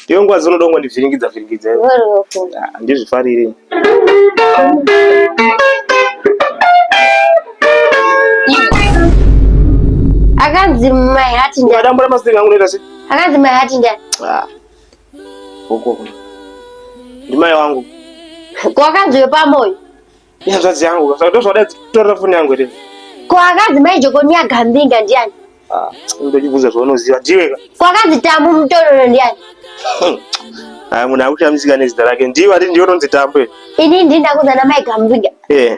Ndiyo nguva dzinodongo ndivhiringidza vhiringidza handizvifarire akanzi mai hati ndadambura masinga angu noita sei akanzi mai hati ndani Uko. Ndimai wangu. Kwakadzi pamoyo. Ihanzvadzi yangu, saka ndozvada kutorera foni yangu here? Kwakadzi mai Jokoni yagambinga ndiani? Ah, ndokubvunza zvaunoziva ndiwe ka. Kwakadzi tambu mutororo ndiani? Ah, munhu akushamisika nezita rake. Ndiwe ari ndiwe unonzi tambu. Ini ndinda kuzana mai Gambinga. Eh.